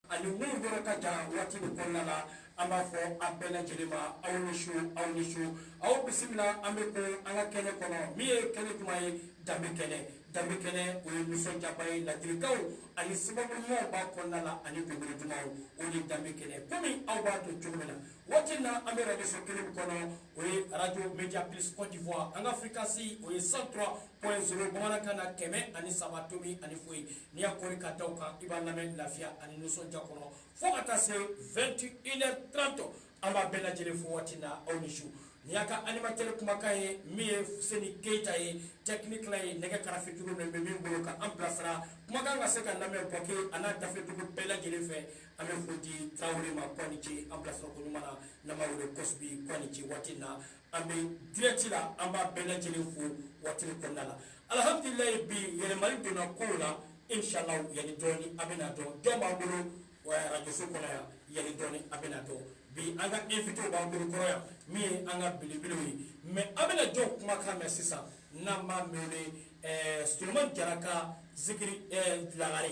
ani min yɔrɔ ka jan waati nin kɔnɔna la an b'a fɔ a bɛɛ lajɛlen ma aw ni su aw ni su aw bisimila an bɛ ko an ka kɛnɛ kɔnɔ min ye kɛnɛ duman ye danbe kɛnɛ danbe kɛnɛ o ye nisɔndiyaba ye ladilikanw ani sababu ɲumanw b'a kɔnɔna la ani dɔnkili dumanw o de ye danbe kɛnɛ komi aw b'a dɔn cogo min na waati na an bɛ radio so kelen kɔnɔ o ye radio media plus cote d'ivoire an ka fréquence o ye 103.0 bamanankan na kɛmɛ ani saba tomi ani foyi n'i y'a kɔri ka da o kan i b'a lamɛn lafiya ani nisɔndiya kɔnɔ fo ka taa se 21 heures 30 an b'a bɛɛ lajɛlen fo waati na aw ni su nin y'a ka animatɛri kumakan ye min ye seni keyita ye tɛkinikila ye nɛgɛ karafe juru nin bɛ min bolo ka an bilasira kumakan ka se ka lamɛn buwake a n'a dafɛ dugu bɛɛ lajɛlen fɛ An bɛ foli di Tarawele ma k'a ni ce an bilasira ko ɲuman na n'an b'a wele Kɔsubi k'a ni ce waati in na an bɛ direct la an b'a bɛɛ lajɛlen fo waati in kɔnɔna la alhamdulilayi bi yɛlɛmali donna kow la inch'Allahu yanni dɔɔni a bɛna dɔn jɔn b'an bolo radio so kɔnɔ yan yanni dɔɔni a bɛna dɔn bi an ka invité b'an bolo kɔrɔ yan min ye an ka belebelew ye mais an bɛna jɔn kumakan mɛn sisan n'an b'a wele Solomani Jara ka zikiri Lagare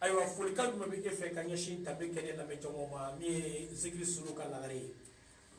ayiwa folikan jumɛn bɛ e fɛ ka ɲɛsin danbe kɛnɛ lamɛnjama ma min ye zikiri solo ka lagare ye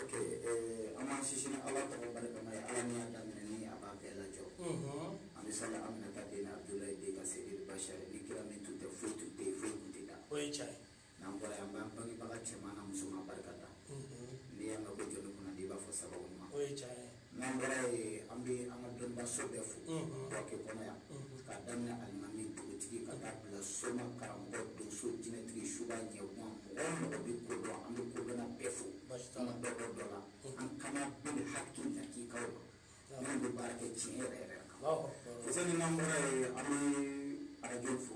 ok eh, an b'an sinsin ala tɔgɔ barikama ye ala min y'a daminɛ ni a b'a bɛɛ lajɔ mhm. an bɛ sali aminata den abdulayi den kan seyidi bashari ni kira min tun tɛ foyi tun tɛ yen foyi tun tɛ dan o ye tiɲɛ ye n'an bɔra yen an b'an bangebaga cɛman na musoman barika da mhm. n'i y'a mɛn ko jɔnni kunnandi i b'a fɔ sababu ɲuman o ye tiɲɛ ye N'an bɔra yen an bɛ an ka dɔnnibaso bɛɛ fo Buwake kɔnɔ yan k'a daminɛ alimami, dugutigi ka taa bila soma, karamɔgɔ, donso, jinɛtigi, suba, ɲagan mɔgɔ o mɔgɔ bɛ ko dɔn an bɛ kodɔnna bɛɛ fo an ka dɔ bɔ dɔ la an kana bil haki hakikaw kan minnu bɛ baara kɛ tiɲɛ yɛrɛ yɛrɛ kan. Fuseni n'an bɔra yen an bɛ arajow fo.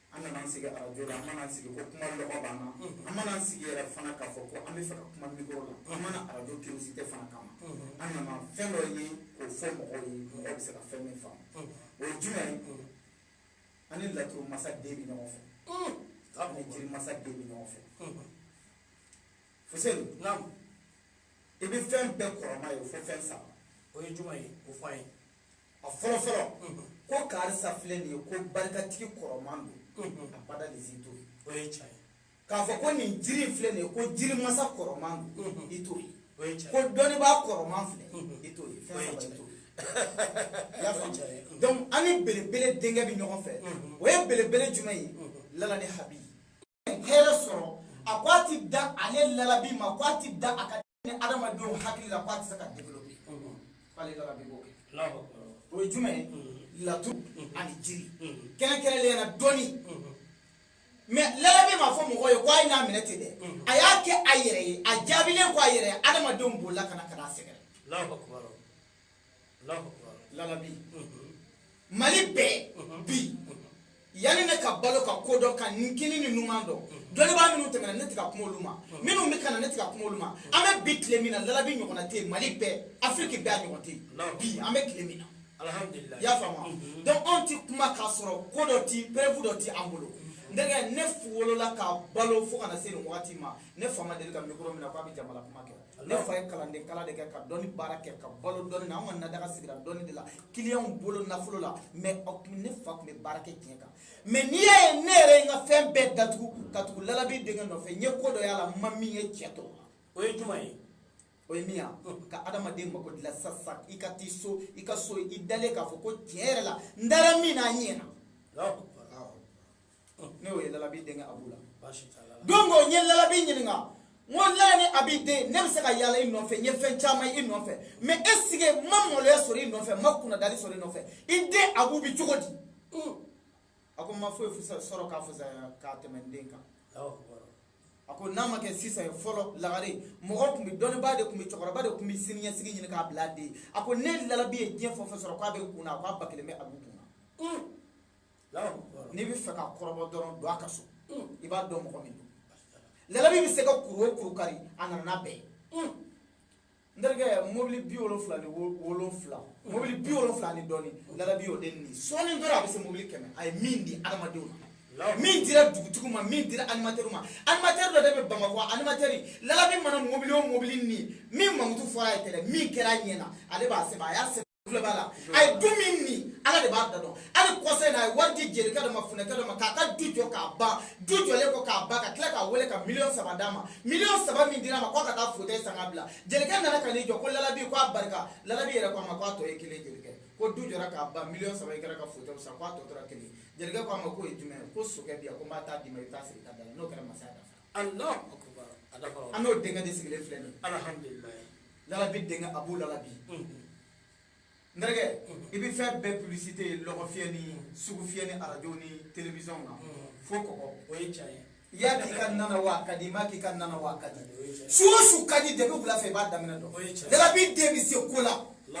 an nana sigi arajo la an ma na sigi ko kuma lɔgɔ b'an na an ma na sigi yɛrɛ fana k'a fɔ ko an bɛ fɛ ka kuma mikro la an ma na arajo curiosité fana kama an nana fɛn dɔ ye k'o fɔ mɔgɔw ye mɔgɔ bɛ se ka fɛn min faamu o ye jumɛn ye an ni laturu masa den bɛ ɲɔgɔn fɛ an ni jiri masa den bɛ ɲɔgɔn fɛ fuseni i bɛ fɛn bɛɛ kɔrɔman ye fo fɛn saba o ye jumɛn ye o fɔ an ye a fɔlɔ fɔlɔ ko karisa filɛ nin ye ko barikatigi kɔrɔman don abada de si t'o ye o ye tiɲɛ ye k'a fɔ ko nin jiri filɛ nin ye ko jiri masa kɔrɔman don i t'o ye o ye tiɲɛ ko dɔnnibaa kɔrɔman filɛ i t'o ye fɛn saba i t'o ye i y'a faamu donc an ni belebele denkɛ bɛ ɲɔgɔn fɛ o ye belebele jumɛn ye lala ni habi hɛrɛ sɔrɔ a ko a ti da ale lalabi ma ko a ti da a ka ni adamadenw hakili la k'a tɛ se ka développer k'ale lalabi b'o kɛ o ye jumɛn ye laturu ani jiri kɛrɛnkɛrɛnnenya na dɔnni mais lalabi ma fɔ mɔgɔ ye ko a ye n'a minɛ ten dɛ a y'a kɛ a yɛrɛ ye a jaabilen ko a yɛrɛ ye adamadenw bolila ka na ka n'a sɛgɛrɛ labi mali bɛɛ bi yanni ne ka balo ka ko dɔn ka n kinin ni numan dɔn dɔnnibaa minnu tɛmɛna ne tɛ ka kuma olu ma minnu bɛ ka na ne tɛ ka kuma olu ma an bɛ bi tile min na lalabi ɲɔgɔnna tɛ yen mali bɛɛ afiriki bɛɛ a ɲɔgɔn tɛ yen bi an bɛ tile min na i y'a faamu mhm. donc anw ti kuma k'a sɔrɔ ko dɔ ti preuve dɔ ti an bolo mhm. n terikɛ ne wolola ka balo fo ka na se nin wagati ma ne fa ma deli ka mikoro minɛ k'a bɛ jamana kuma kɛ ne fa ye kalanden kalan de kɛ ka dɔnni baara kɛ ka balo dɔnni na an ka nadaga sigira dɔnni de la kiliyanw bolo nafolo la mais ne fa tun bɛ baara kɛ tiɲɛ kan mais n'i y'a ye ne yɛrɛ ye n ka fɛn bɛɛ datugu ka tugu lalabi denkɛ nɔfɛ n ye ko dɔ y'a la n ma min ye cɛ tɔ o ye jumɛn ye o ye min ye ka adamaden mako dilan sisan i ka taa so i ka so i dalen k'a fɔ ko tiɲɛ yɛrɛ la n dara min na a ɲɛna ne y'o ye lalabi denkɛ abu la donc o n ye lalabi ɲininka n ko lala ni abi den ne bɛ se ka yaala i nɔfɛ n ye fɛn caman i nɔfɛ mais est-ce que n ma maloya sɔrɔ i nɔfɛ n ma kunnadali sɔrɔ i nɔfɛ i den abu bɛ cogo di a ko n ma foyi sɔrɔ ka fisaya ka tɛmɛ n den kan a ko n'a ma kɛ sisan ye fɔlɔ lagare mɔgɔ tun bɛ dɔnnibaa de tun bɛ cɛkɔrɔba de tun bɛ siniɲɛsigi ɲini k'a bila den a ko ne lalabi ye diɲɛ fɛn o fɛn sɔrɔ k'a bɛ n kun na a k'a ba kelen bɛ abu kun na n'i b'a fɛ k'a kɔrɔbɔ dɔrɔn don a ka so i b'a dɔn mɔgɔ min don lalabi bɛ se ka kuru o kuru kari a nana n'a bɛɛ ye n terikɛ mobili bi wolonwula ni wolonwula mobili bi wolonwula ni dɔɔni lalabi y'o de ni sɔɔni dɔrɔn a bɛ se mobili kɛmɛ a ye min di adamadenw ma min dira dugutigi ma min dira animatɛri ma animatɛri dɔ de bɛ bamakɔ animatɛri lalabi mana mobili o mobili ni min mankutu fɔra a ye tɛrɛ min kɛra a ɲɛ na ale b'a sɛbɛn a y'a sɛbɛn tulo b'a la a ye du min ni ala de b'a da dɔn hali kɔsa in na a ye wari di jelikɛ dɔ ma funɛkɛ dɔ ma k'a ka du jɔ k'a ban du jɔlen kɔ k'a ban ka tila k'a wele ka miliyɔn saba d'a ma miliyɔn saba min dira a ma k'a ka taa fotɛyi san ka bila jelikɛ nana ka n'i jɔ ko lalabi ko a barika lalabi yɛrɛ ko a ma ko a tɔ ye kelen jelikɛ ko du jɔra k'a ban miliyɔn saba in kɛra ka fotɛyi san ko a tɔ tora kelen jelikɛ ko a ma k'o ye jumɛn ye ko sokɛ bi yan ko n b'a taa d'i ma i bɛ taa sigi i ka da la n'o kɛra masaya dafa an n'o denkɛ de sigilen filɛ nin lalabi denkɛ abu lalabi n terikɛ i bɛ fɛn bɛɛ publicité ye lɔgɔfiyɛ ni sugufiyɛ ni arajo ni télévision na fo kɔgɔ o ye tiɲɛ ye i y'a kɛ i ka na na wa a ka di i m'a k'i ka na na wa a ka di su o su ka di depuis wula fɛ i b'a daminɛ dɔn lalabi den bɛ se ko la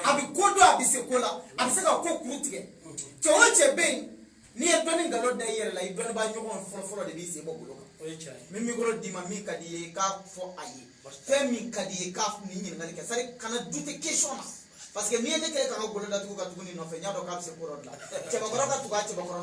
a bɛ ko dɔn a bɛ se ko la a bɛ se ka ko kuru tigɛ cɛ o cɛ bɛ yen n'i ye dɔnni nkalon da i yɛrɛ la i dɔnnibaa ɲɔgɔn fɔlɔfɔlɔ de b'i sen bɔ bolo kan min mikoro d'i ma min ka di i ye i k'a fɔ a ye fɛn min ka di i ye k'a nin ɲininkali kɛ c'est à dire kana douter question na parce que n'i ye ne kɛ ka n ka golo datugu ka tugu nin nɔfɛ n y'a dɔn k'a bɛ se ko dɔ dilan cɛbakɔrɔ ka tugu a cɛbakɔrɔ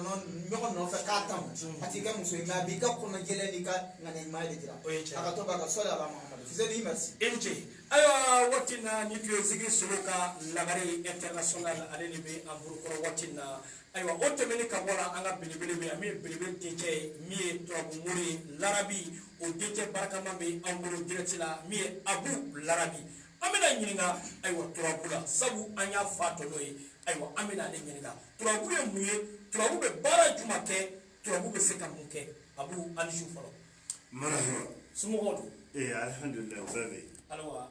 ɲɔgɔn nɔfɛ k'a tamu a t'i kɛ muso ye mais a b'i ka kɔnɔ jɛlen n'i ka ŋaniya ɲuman de jira a ka to b'a ka sɔli ala mahamadu fuseni merci i ni ce ayiwa waati na ni tun ye zikiri solo ka lagare international ale de bɛ an bolokɔrɔ waati na ayiwa o tɛmɛni ka bɔ la an ka belebele bɛ yan min ye belebele dencɛ ye min ye turabu mori ye larabi o dencɛ barikama bɛ an bolo direct la min ye abu larabi an bɛna ɲininka ayiwa turabu la sabu an y'a fa dɔn n'o ye ayiwa an bɛna ale ɲininka turabu ye mun ye turabu bɛ baara juma kɛ turabu bɛ se ka mun kɛ abu an ni su fɔlɔ. marahaba. somɔgɔw dun. ee alihamdulilayi o bɛɛ bɛ yen. ayiwa.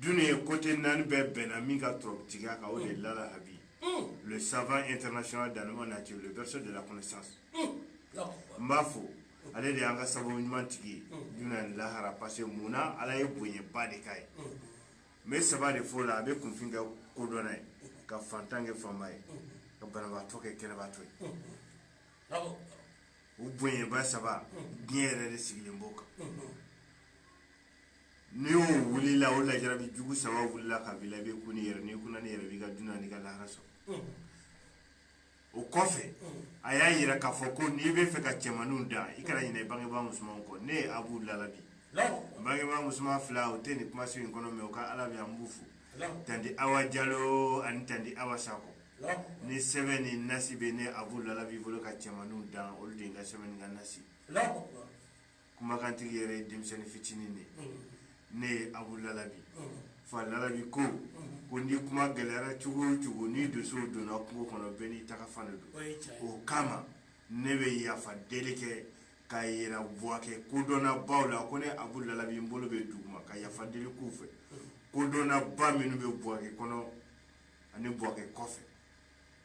Dunya côté naani bɛɛ bɛnna min ka tɔgɔtigiya kan o de lalabi le savant international dans la nature le berceau de la connaissance n b'a fo ale de y'an ka sababu ɲuman tigi ye dunya ni lahara parce que mun na ala ye bonyaba de k'a ye n bɛ saba de fɔ la a bɛ kunfin kɛ kodɔnna ye ka fantan kɛ faama ye ka banabaatɔ kɛ kɛnɛbaatɔ ye o bonyaba saba diɲɛ yɛrɛ de sigilen b'o kan n'i y'o wulila o lajarabi jugu saba wulila ka b'i la i bɛ kun i yɛrɛ n'i kunna i yɛrɛ b'i ka dunya n'i ka lahara sɔrɔ mm. o kɔfɛ mm. a y'a yira k'a fɔ ko n'i bɛ fɛ ka cɛmaninw dan i kana ɲinɛ i bangebaa musomanw kɔ ne ye abu lalabi n bangebaa musoman fila u tɛ nin kumaso in kɔnɔ mais u ka ala bɛ an b'u fo tanti awa jalo ani tanti awa sako ni sɛbɛn ni nasi bɛ ne abu lalabi bolo ka cɛmaninw dan olu de ye n ka sɛbɛn ni n ka nasi kumakantigi yɛrɛ ye denmisɛnnin fitinin de ye ne ye abu lalabi fa lalabi ko ko ni kuma gɛlɛyara cogo o cogo ni donsow donna kungo kɔnɔ bɛɛ n'i taga fan de don o kama ne bɛ yafa deli kɛ ka yira buwake kodɔnna baw la ko ne abu lalabi n bolo bɛ duguma ka yafa deli k'u fɛ kodɔnna ba minnu bɛ buwake kɔnɔ ani buwake kɔfɛ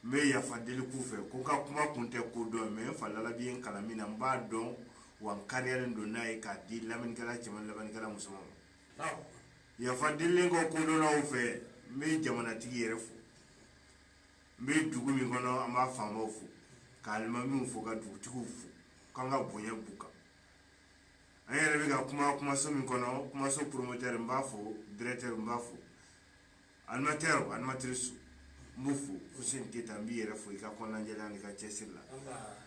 n bɛ yafa deli k'u fɛ ko n ka kuma kun tɛ kodɔn mais n fa lalabi ye n kalan min na n b'a dɔn wa n kariyalen don n'a ye k'a di lamɛnnikɛla cɛman lamɛnnikɛla musoman ma yafa delilen kɔ kodɔnnaw fɛ n bɛ jamanatigi yɛrɛ fo n bɛ dugu min kɔnɔ an b'a faamaw fo ka alimamiw fo ka dugutigiw fo k'an ka bonya b'u kan an yɛrɛ bɛ ka kuma kumaso min kɔnɔ kumaso promoteur n b'a fo directeur n b'a fo Animateur ou animatrice n b'u fo Fuseni Keyita n b'i yɛrɛ fo i ka kɔnɔnajɛlenya n'i ka cɛsiri la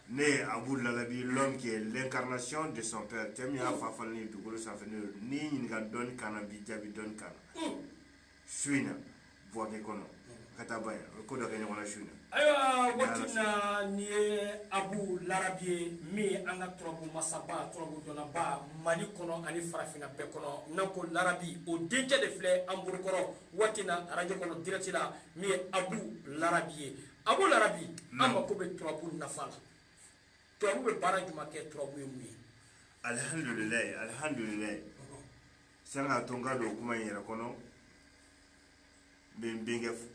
ne ye Abu Lalabi l'homme qui est l'incarnation de son père cɛ min y'a fa falen ye dugukolo sanfɛ n'o ye n'i ɲininka dɔnni kan na n b'i jaabi dɔnni kan na su in na Buwake kɔnɔ ka taa ba in o ye ko dɔ kɛ ɲɔgɔn na su in na Ayiwa waati na ni ye abu larabi ye min ye an ka turabu masaba turabu dɔnnaba mali kɔnɔ ani farafinna bɛɛ kɔnɔ n'an ko larabi o denkɛ de filɛ an bolokɔrɔ waati na arajo kɔnɔ direct la min ye abu larabi ye abu larabi an mako bɛ turabu nafa la turabu bɛ baara jumɛn kɛ turabu ye mun ye alihamdulilayi alihamdulilayi sanga to n ka don kuma in yɛrɛ kɔnɔ n bɛ n bɛnkɛ fo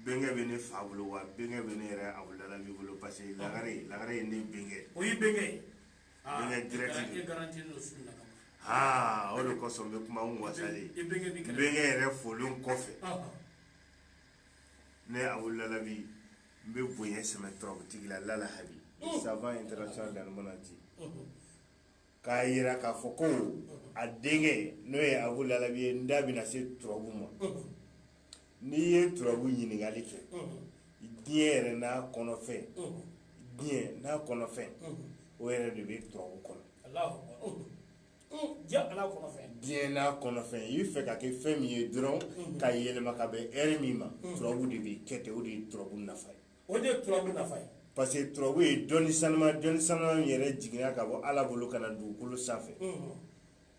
bɛnkɛ bɛ ne fa bolo wa bɛnkɛ bɛ ne yɛrɛ abu lalabi bolo parce que lagare lagare ye ne bɛnkɛ o ye bɛnkɛ ye bɛnkɛ direct de don garanti n'o su na kama aa o de kosɔn n bɛ kuma n wasalen i bɛnkɛ b'i kɛrɛfɛ bɛnkɛ yɛrɛ folen kɔfɛ ne abu lalabi n bɛ bonya sɛmɛ turabutigi la lalahabi savant international danimana ti k'a yira k'a fɔ ko a denkɛ n'o ye abu lalabi ye n da bɛna se turabu ma n'i ye turabu ɲininkali kɛ diɲɛ yɛrɛ n'a kɔnɔfɛn diɲɛ n'a kɔnɔfɛn o yɛrɛ de bɛ turabu kɔnɔ diɲɛ n'a kɔnɔfɛn i bɛ fɛ ka kɛ fɛn min ye dɔrɔn ka yɛlɛma ka bɛn hɛrɛ min ma turabu de b'i kɛ ten o de ye turabu nafa ye o de ye turabu nafa ye parce que turabu ye dɔnni sanuma dɔnni sanuma min yɛrɛ jiginna ka bɔ ala bolo ka na dugukolo sanfɛ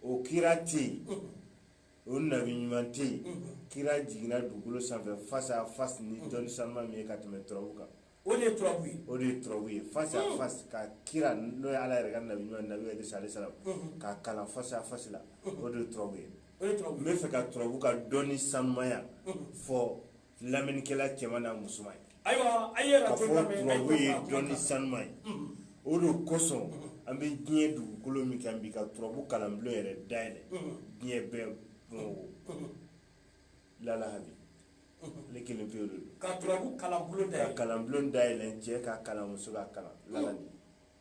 o kira tɛ yen o nabi ɲuman tɛ yen kira jiginna dugukolo sanfɛ face à face ni dɔnni sanuma min ye ka tɛmɛ turabu kan o de ye turabu ye o de ye turabu ye face à face ka kira n'o ye ala yɛrɛ ka nabi ɲuman nabi idrisa alayhi salam ka kalan face à face la o de ye turabu ye n bɛ fɛ ka turabu ka dɔnni sanumaya fɔ lamɛnnikɛla cɛman n'a musoman ye ayiwa a ye ka fɔ turabu ye dɔnni sanuma ye o de kosɔn an bɛ diɲɛ dugukolo min kan bi ka turabu kalanbulon yɛrɛ dayɛlɛ diɲɛ bɛɛ bamakɔ lalahabi ale kelen pewu de don ka turabu kalanbulon dayɛlɛ ka kalanbulon dayɛlɛ cɛ ka kalan muso ka kalan lalabi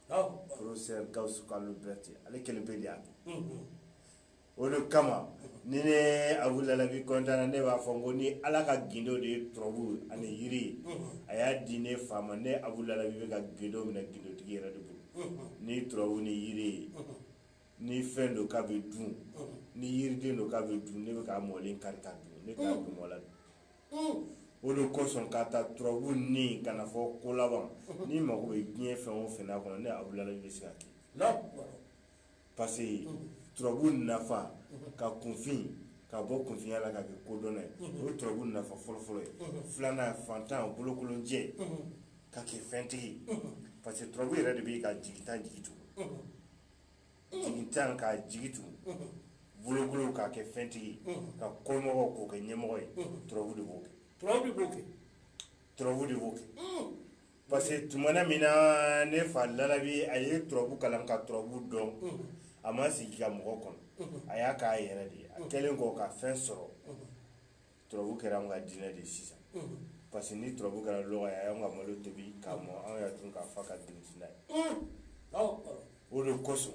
Alahu akibaru. professeur gawusu kalo berete ale kelen pe de y'a kɛ o de kama ni ne abu lalabi kɔntanna ne b'a fɔ ko ni ala ka gindo de ye turabu ani yiri ye a y'a di ne fa ma ne abu lalabi bɛ ka gindo minɛ gindotigi yɛrɛ de bolo ni turabu ni yiri ye ni fɛn don k'a bɛ dun ni yiriden don k'a bɛ dun ne bɛ k'a mɔlen kari k'a dun ne t'a dun mɔla dun o de kosɔn ka taa turabu ni ka na fɔ ko laban n'i mago bɛ diɲɛ fɛn o fɛn n'a kɔnɔ ne abu lalabi bɛ se ka kɛ parce que turabu nafa ka kunfin k'a bɔ kunfinya la k'a kɛ kodɔnna ye o ye turabu nafa fɔlɔfɔlɔ ye filanan fantan bolokolonjɛ k'a kɛ fɛntigi parce que turabu yɛrɛ de bɛ ka jigitan jigi tugun jigitan k'a jigi tugun bolokolo k'a kɛ fɛntigi ka kɔmɔgɔ k'o kɛ ɲɛmɔgɔ ye turabu de b'o kɛ turabu de b'o kɛ Parce que tuma min na ne fa lalabi a ye turabu kalan ka turabu dɔn a ma sigi ka mɔgɔ kɔnɔ a y'a k'a yɛrɛ de ye a kɛlen kɔ ka fɛn sɔrɔ turabu kɛra an ka diinɛ de sisan parce que ni turabu kɛra lɔgɔ ye a y'an ka malo tobi k'a mɔ an y'a dun ka fa ka dina ye o de kosɔn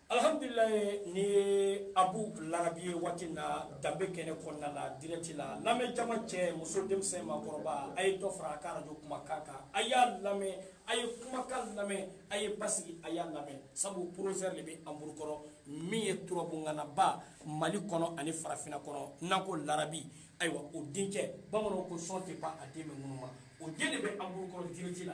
Alhamdulilahi ni Abu Larabi ye waati in na danbe kɛnɛ kɔnɔna la direct la lamɛn jama cɛ muso denmisɛn maakɔrɔba a ye dɔ fara a ka radio kumakan kan a y'a lamɛn a ye kumakan lamɛn a ye basigi a y'a lamɛn sabu professeur de bɛ an bolokɔrɔ min ye turabuŋanaba Mali kɔnɔ ani farafinna kɔnɔ n'an ko Larabi ayiwa o denkɛ bamananw ko sɔn tɛ pan a den bɛ ŋunuma o den de bɛ an bolokɔrɔ direct la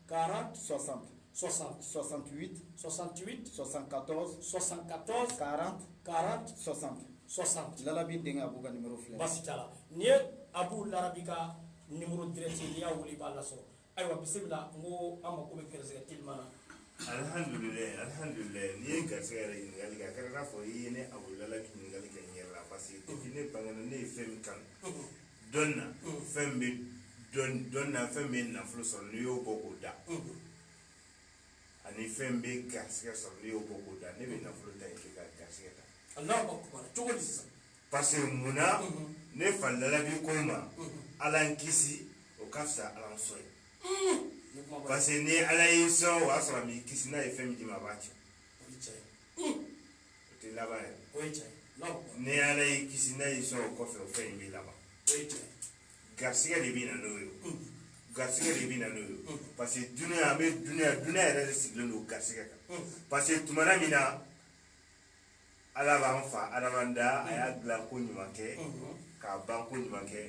40 60 68 68 74 74 40 40 60 60 larabi denkɛ abu ka nimero filɛ baasi t'a la nin ye abu larabi ka nimero direct n'i y'a wele i b'a lasɔrɔ ayiwa bisimila n ko an mako bɛ gɛrɛsɛgɛ teliman na alihamdulilayi alihamdulilayi n'i ye garisɛgɛ yɛrɛ ɲininkali kɛ a kɛra i n'a fɔ i ye ne abu larabi ɲininkali kɛ n yɛrɛ la parce que depuis ne bangena ne ye fɛn min kanu dɔnni na fɛn bɛ dɔnni na fɛn bɛ nafolo sɔrɔ n'i y'o bɔ k'o da ani fɛn bɛ garisigɛ sɔrɔ n'i y'o bɔ k'o da ne bɛ nafolo to yen ka garisigɛ ta cogo di sisan parce que mun na ne fa lalabi ko ma ala n kisi o ka fisa ala n sɔn ye parce que ni ala y'i sɔn o y'a sɔrɔ a m'i kisi n'a ye fɛn min d'i ma a b'a tiɲɛ o tɛ laban ye o ye tiɲɛ ye ni ala y'i kisi n'a y'i sɔn o kɔfɛ o fɛn in bɛ laban o ye tiɲɛ ye garisigɛ de bɛ na n'o ye o garisigɛ de bɛ na n'o ye o parce que dunuya an bɛ dunuya dunuya yɛrɛ de sigilen don garisigɛ kan parce que tumana min na ala b'an fa adama da a y'a dilan ko ɲuman kɛ k'a ban ko ɲuman kɛ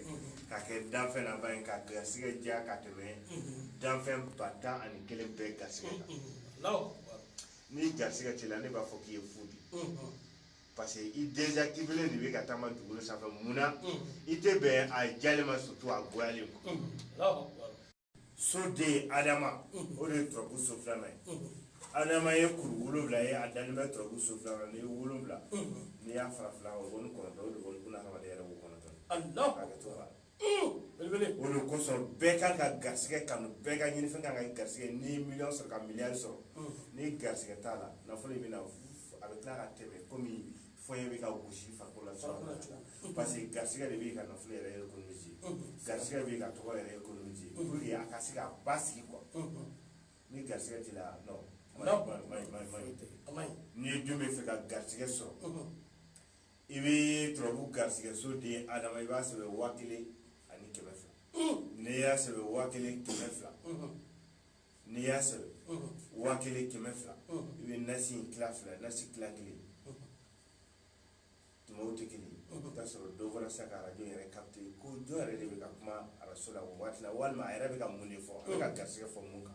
k'a kɛ danfɛn laban ye k'a garisigɛ diya ka tɛmɛ danfɛn ba tan ani kelen bɛɛ garisigɛ kan ni garisigɛ t'i la ne b'a fɔ k'i ye fu de parce que i désactivélen de bɛ ka taama dugukolo sanfɛ mun na i tɛ bɛn a diyalen ma surtout a goyalen ma soden adama o de ye turabu so filanan ye adama ye kuru wolonwula ye a dalen bɛ turabu so filanan n'i ye wolonwula n'i y'a fara fila kan o ni kɔnɔntɔn o de bɛ buna hadamaden yɛrɛ wo kɔnɔntɔn hakɛto b'a la o de kosɔn bɛɛ kan ka garisɛgɛ kanu bɛɛ ka ɲinifɛn kan ka garisɛgɛ n'i ye miliyɔn sɔrɔ ka miliyari sɔrɔ ni garisɛgɛ t'a la nafolo in bɛ na a bɛ tila ka tɛmɛ kɔmi fɔɲɛ bɛ ka gosi farikolo la cogoya min na parce que garisɛgɛ de bɛ ka nafolo yɛrɛ économiser garisɛgɛ bɛ ka tɔgɔ yɛrɛ économiser pour que a ka se ka basigi quoi ni garisɛgɛ t'i la non maɲi maɲi maɲi maɲi n'i ye dun bɛ fɛ ka garisɛgɛ sɔrɔ i bɛ turabu garisigɛso den adama i b'a sɛbɛn waa kelen ani kɛmɛ fila n'i y'a sɛbɛn waa kelen kɛmɛ fila n'i y'a sɛbɛn waa kelen kɛmɛ fila i bɛ nasi in tila fila nasi tila kelen tumaw tɛ kelen i bɛ taa sɔrɔ dɔ fana se ka arajo yɛrɛ capter ko jɔn yɛrɛ de bɛ ka kuma arajo la o waati la walima a yɛrɛ bɛ ka mun de fɔ a bɛ ka garisigɛ fɔ mun kan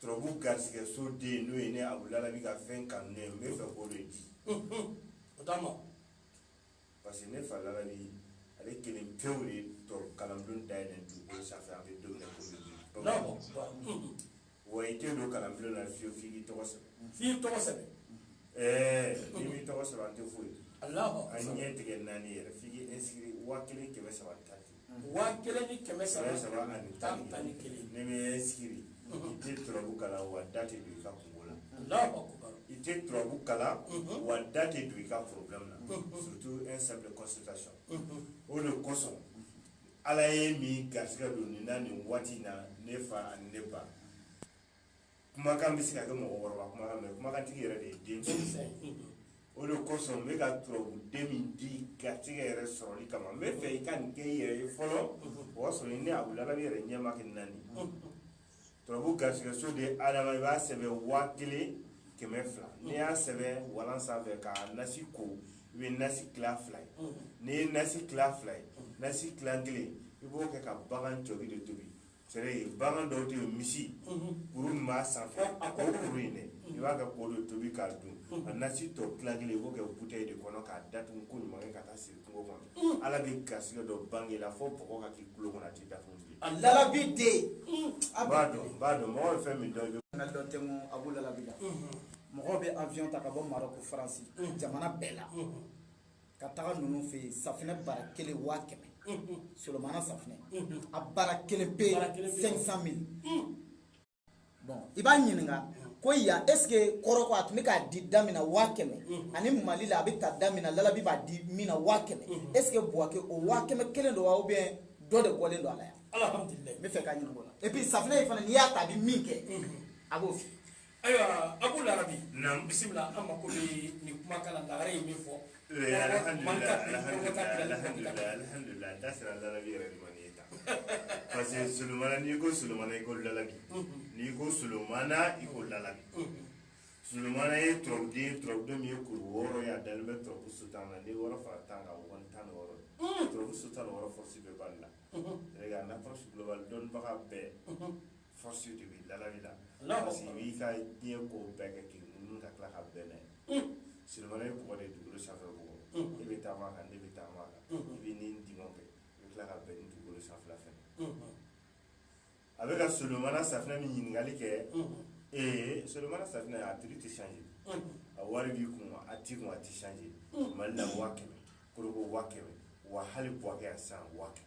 turabu garisigɛ so den n'o ye ne abu lalabi ka fɛn kanunen ye n bɛ fɛ k'o de di o t'a ma parce que ne fa lalabi ale kelen pewu de turabu kalanbulon dayɛlɛ dugukolo sanfɛ an bɛ don min na komi bi bamakɔ wa i tɛ don kalanbulon na fiyewu f'i k'i tɔgɔ sɛbɛn f'i tɔgɔ sɛbɛn ɛɛ n'i m'i tɔgɔ sɛbɛn an tɛ foyi an ɲɛ tɛ kɛ naani yɛrɛ f'i k'i inscrit waa kelen kɛmɛ saba ni tan waa kelen ni kɛmɛ saba saba ani tan ni tan ni kelen n'i m'i inscrit i tɛ turabu kalan wa da tɛ don i ka kungo la i tɛ turabu kalan wa da tɛ don i ka problème na surtout un simple consultation o de kosɔn ala ye min garisigɛ don nin na nin waati in na ne fa ani ne ba kumakan bɛ se ka kɛ mɔgɔkɔrɔba kumakan mɛ kumakantigi yɛrɛ de ye den o de kosɔn n bɛ ka turabuden min di garisigɛ yɛrɛ sɔrɔli kama n bɛ fɛ i ka nin kɛ i yɛrɛ ye fɔlɔ o y'a sɔrɔ ne abu lalabi yɛrɛ ɲɛ ma kɛ naani turabu garisigɛso den adama i b'a sɛbɛn waa kelen kɛmɛ fila n'i y'a sɛbɛn walan sanfɛ k'a nasi ko i bɛ nasi tila fila ye n'i ye nasi tila fila ye nasi tila kelen i b'o kɛ ka bagan jɔbi de tobi c'est à dire bagan dɔw tɛ misi kuru min b'a sanfɛ o kuru in dɛ i b'a kɛ k'o de tobi k'a dun a nasi tɔ tila kelen i b'o kɛ bouteille de kɔnɔ k'a datugu koɲuman kɛ ka taa siri kungo kɔnɔ ala bɛ garisɛgɛ dɔ bange la fo bɔgɔ ka k'i tulo kɔnɔ a tɛ datugu bilen a lalabi den a b'a dɔn b'a dɔn mɔgɔ bɛ fɛn min dɔn dɔn tɛ abu lalabi mɔgɔ bɛ avion ta ka bɔ marɔku faransi jamana bɛɛ la ka taga ninnu fɛ yen safinɛ bara kelen waa kɛmɛ solomana safinɛ a bara kelen pe 500 mille bon i b'a ɲininka ko ya est ce que korogo a tun bɛ k'a di da min na waa kɛmɛ ani mali la a bɛ ta da min na lalabi b'a di min na waa kɛmɛ est ce que buwake o waa kɛmɛ kelen don wa ou bien dɔ de bɔlen don a la yan n bɛ fɛ k'a ɲininka o la et puis safinɛ in fana n'i y'a ta a bɛ min kɛ a b'o f'i ye ayiwa abu lalabi bisimila an mako bɛ nin kumakan na lagare ye min fɔ alhamdulilayi da sera lalabi yɛrɛ de ma nin ye tan parce que solomana n'i ko solomana i ko lalabi n'i ko solomana i ko lalabi solomana ye turabuden turabuden min ye kuru wɔɔrɔ ye a dalen bɛ turabu so tan na n'i ye wɔɔrɔ fara tan kan o kɔni tan ni wɔɔrɔ turabu so tan ni wɔɔrɔ force bɛ bali la yɛrɛ ka en approche globale dɔnnibaga bɛɛ force de bɛ lalabi la parce que i b'i ka diɲɛ ko bɛɛ kɛ k'i munumunu ka tila ka bɛn n'a ye solomana ye bɔgɔ de dugukolo sanfɛ bɔgɔ i bɛ taama a kan ne bɛ taama a kan i bɛ ni diɲɛ kɛ i bɛ tila ka bɛn ni dugukolo sanfɛla fɛnɛ a bɛ ka solomana safinɛ min ɲininkali kɛ ee solomana safinɛ a prix tɛ changer a wari b'i kun a t'i kun a tɛ changer mali la waa kɛmɛ kɔrɔkɔ waa kɛmɛ wa hali buwakɛ yan waa kɛmɛ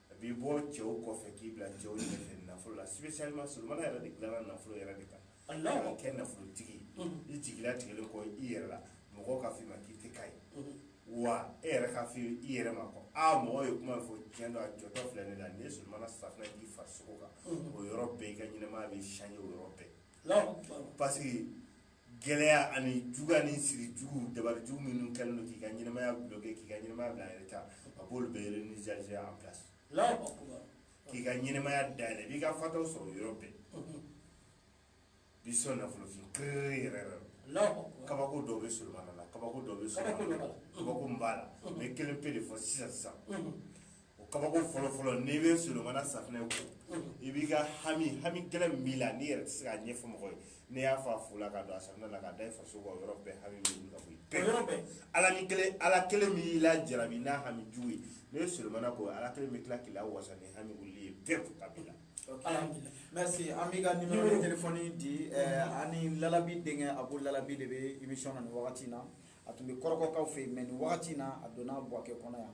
A b'i bɔ cɛw kɔfɛ k'i bila cɛw ɲɛfɛ nafolo la spécialement solomana yɛrɛ de dilanna nafolo yɛrɛ de kan Alahu akbar ka kɛ nafolotigi ye unhun i jigi latigɛlen kɔ i yɛrɛ la mɔgɔw k'a fɔ i ma k'i tɛ k'a ye unhun wa e yɛrɛ k'a fɔ i yɛrɛ ma ko aa mɔgɔw ye kuma min fɔ tiɲɛ don a jɔtɔ filɛ ne la n'i ye solomana safinɛ k'i farisogo kan unhun o yɔrɔ bɛɛ i ka ɲɛnamaya bɛ changer o yɔrɔ bɛɛ Alahu akbar parce que gɛlɛya ani juguya ni siri jugu dabari jugu minnu kɛlen don k'i ka ɲɛnamaya bloquer k'i ka ɲɛnamaya bila en retard a b'olu bɛɛ réinitialiser en place k'i ka ɲɛnamaya dayɛlɛ i b'i ka fataw sɔrɔ yɔrɔ bɛɛ bi sɔn nafolofɛn kerere yɛrɛ yɛrɛ kabako dɔw bɛ solomana la kabako dɔw bɛ solomana la kabako min b'a la n bɛ kelen pe de fɔ sisan sisan o kabako fɔlɔfɔlɔ n'i bɛ solomana safinɛ ko i b'i ka hami hami gɛlɛn min b'i la n'i yɛrɛ tɛ se k'a ɲɛfɔ mɔgɔ ye n'i y'a fɔ a fu la ka don a safinɛ la ka da i farisogo kan o yɔrɔ bɛɛ hami bɛ wuli ka bɔ yen yɔrɔ bɛɛ ala ni kelen ala kelen min y'i lajarabi ni hami jugu ye n'i ye solomana ko ala kelen bɛ tila k'i lawasa ni hami wuli ye pewu ka b'i la alhamdulilayi merci an b'i ka numéro de téléphone di eh, ani lalabi denkɛ abu lalabi de bɛ émission na nin wagati in na a tun bɛ kɔrɔkɔkaw fɛ yen mais nin wagati in na a donna buwakɛ kɔnɔ yan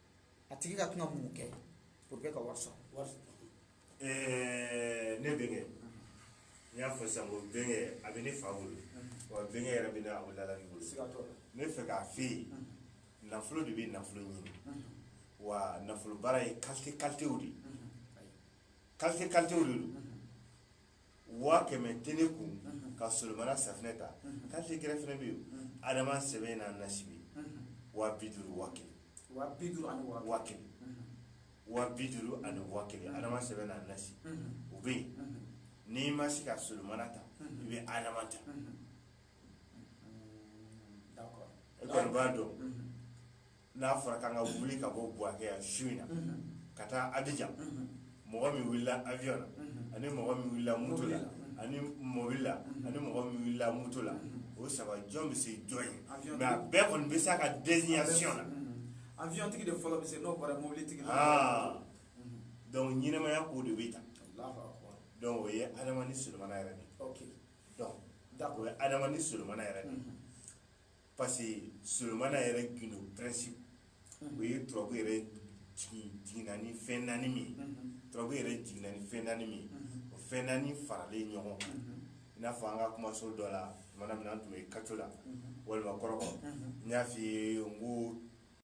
a tigi ka kan ka mun kɛ pour que ka wari sɔrɔ ne bɛnkɛ n y'a fɔ sisan ko bɛnkɛ a bɛ ne fa bolo wa bɛnkɛ yɛrɛ bɛ ne abu lalabi bolo ne fɛ k'a f'i ye nafolo de bɛ nafolo ɲini wa nafolo baara ye qualité qualitéw de ye qualité qualitéw de don waa kɛmɛ tɛ ne kun ka solomana safinɛ ta qualité gɛrɛ fɛnɛ bɛ yen adama sɛbɛn n'a nasi bɛ waa bi duuru waa kelen waa bi duuru ani waa waa kelen waa bi duuru ani waa kelen adama sɛbɛn n'a nasi o bɛ yen n'i ma se ka solomana ta i bɛ adama ta e kɔni b'a dɔn n'a fɔra k'an ka wuli ka bɔ Buwakɛ yan su in na ka taa Abijan mɔgɔ min wulila avion na ani mɔgɔ min wulila moto la ani mɔbili la ani mɔgɔ min wulila moto la o saba jɔn bɛ se jɔn ɲɛ mais a bɛɛ kɔni bɛ s'a ka destination na avion tigi de fɔlɔ bɛ se n'o bɔra mobili tigi la donc ɲɛnamaya ko de bɛ tan donc o ye Adama ni Solomana yɛrɛ de ye donc o ye Adama ni Solomana yɛrɛ de ye parce que Solomana yɛrɛ gindo principe o ye turabu yɛrɛ jiginna ni fɛn naani min ye turabu yɛrɛ jiginna ni fɛn naani min ye o fɛn naani faralen ɲɔgɔn kan i n'a fɔ an ka kumaso dɔ la tumana min na an tun bɛ Kacola walima Kɔrɔgɔ n y'a f'i ye n ko